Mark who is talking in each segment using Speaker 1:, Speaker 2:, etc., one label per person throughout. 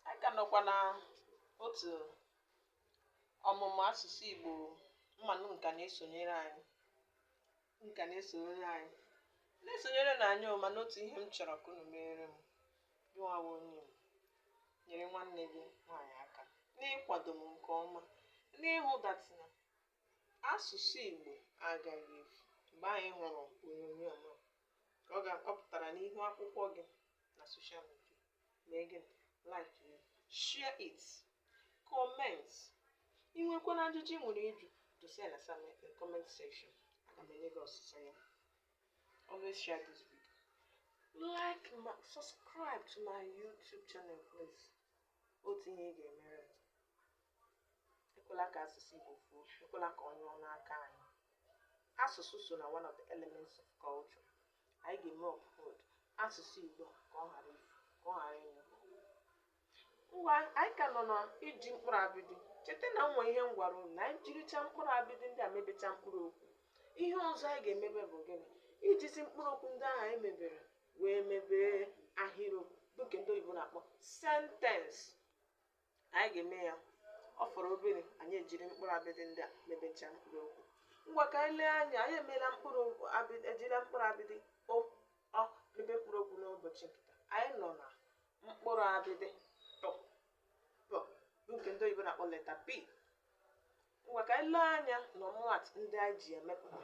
Speaker 1: anyị ka nọkwa na otu ọmụmụ asụsụ Igbo mmanụ nka na-esonyere anyị nka na-esonyere anyị na-esonyere na anyị mana otu ihe m chọrọ ka unu meere m jụwawa onye m nyere nwanne gị nwaanyị aka n'ịkwado m nke ọma n'ịhụ that na asụsụ Igbo agaghị efu mgbe anyị hụrụ onyonyo a ka ọ pụtara n'ihu akwụkwọ gị na social media mee gịnị like ya share it comment ị nwekwara ajụjụ ị nwere ịjụ dosa ya na same in comment section aga m enye gị ọsịsa ya always share this video like ma subscribe to my youtube channel please otu ihe ị ga-emere m ekwela ka asụsụ Igbo fuo ekwela ka ọ nyụọ n'aka anyị asụsụ so na one of the elements of culture anyị ga-eme uphold asụsụ Igbo ka ọ ghara ifu ka ọ ghara ịnyụ ngwa anyị ka nọ na iji mkpụrụ abịdị cheta na nwere ihe m gwara unu na anyị jiricha mkpụrụ abịdị ndị a mebecha mkpụrụ okwu ihe ọzọ anyị ga-emebe bụ gịnị ijizi mkpụrụ okwu ndị ahụ anyị mebere wee mebee ahịrịokwu bụ nke ndị oyibo na-akpọ sentence anyị ga-eme ya ọ fọrọ obere anyị ejiri mkpụrụ abịdị ndị a mebechaa mkpụrụ okwu ngwa ka anyị lee anya anyị emeela mkpụrụ abịdị ejila mkpụrụ abịdị o ọ mebe mkpụrụ okwu n'ụbọchị nke taa anyị nọ na mkpụrụ abịdị pụ pụ bụ nke ndị oyibo na-akpọ letter p Ngwa ka anyị lee anya n'ọmụmaatụ ndị anyị ji ya mepụta.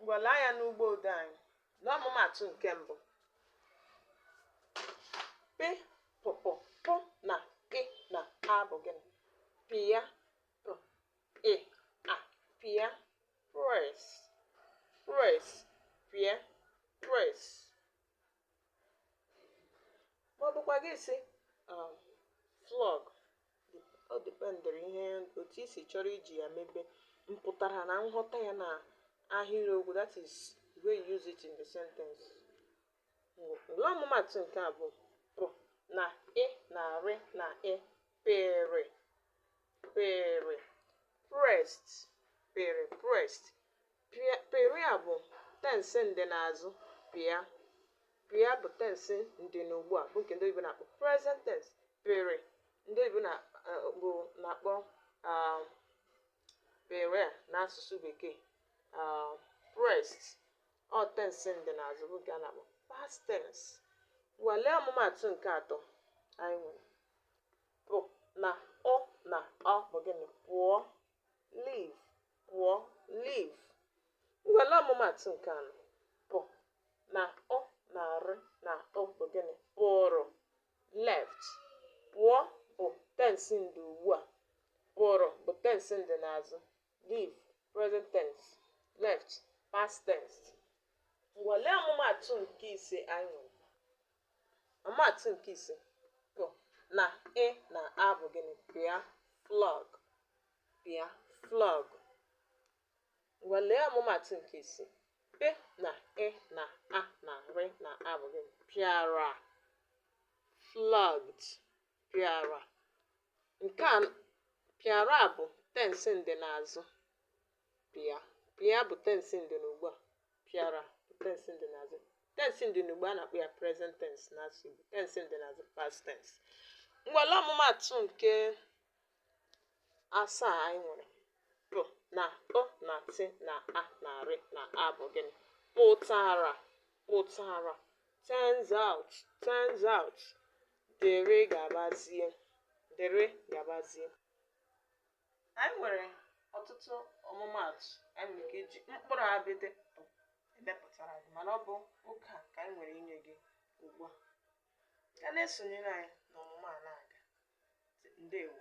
Speaker 1: Ngwa lee anya n'ụgbọ odee anyị. Lee ọmụmaatụ nke mbụ. Pị, pụ, pụ, pụ na ị na a bụ gịnị? Pịa, pụ, ị, a, pịa, press, press, pịa, press, ma ọ bụkwa gị sị um, flog ọ dependịrị ihe otu i si chọrọ iji ya mebe mpụtara na nghọta ya na ahịrịokwu that is the way you use it in the sentence ngwa ọmụmaatụ nke abụọ pụ na ị na rị na ị pịrị pịrị pressed pịrị pressed Pịa, pịrị a bụ tensị ndịnaazụ pịa. Pịa bụ tensị ndịnugbu a bụ nke ndị oyibo na-akpọ present tense. Pịrị ndị oyibo na eh, bụ na-akpọ ah, pịrị a n'asụsụ bekee ah, pressed ọ tensị ndịnaazụ bụ nke a na-akpọ past tense. Ngwa lee ọmụmaatụ nke atọ anyị nwere. Pụ na ụ na ọ bụ gịnị? Pụọ. leave pụọ leave ngwa lee ọmụmatụ nke anọ pị na ụ na rị na ụ bụ gịnị pụrụ left pụọ bụ tense ndị ugbu a pụrụ bụ tense ndị n'azụ leave present tense left past tense ngwa lee ọmụmatụ nke ise anyị Ọmụmaatụ nke ise pị na ị na a bụ gịnị pịa flog pịa flog ngwa lee ọmụmaatụ nke isii pị na ị na a na rị na a bụ gịnị pịara flogged pịara nke a pịara bụ tense ndịnazụ pịa pịa bụ tensi ndị ugbu a pịara bụ tensi ndị na azụ tensi ndị ugbu a na-akpọ ya present tense na asụ Igbo tensi ndị na azụ past tense ngwa lee ọmụmatụ nke asaa anyị nwere pị na ụ na tị na a na rị na a bụ gịnị pụtara pụtara turns out turns out dịrị gabazie dịrị gabazie anyị nwere ọtụtụ ọmụmaatụ anyị nwere ike iji mkpụrụ abịdị emepụtara gị mana ọ bụ oge a ka anyị nwere inye gị ugbu a ka na-esonyere anyị n'ọmụmụ a na-aga ndewo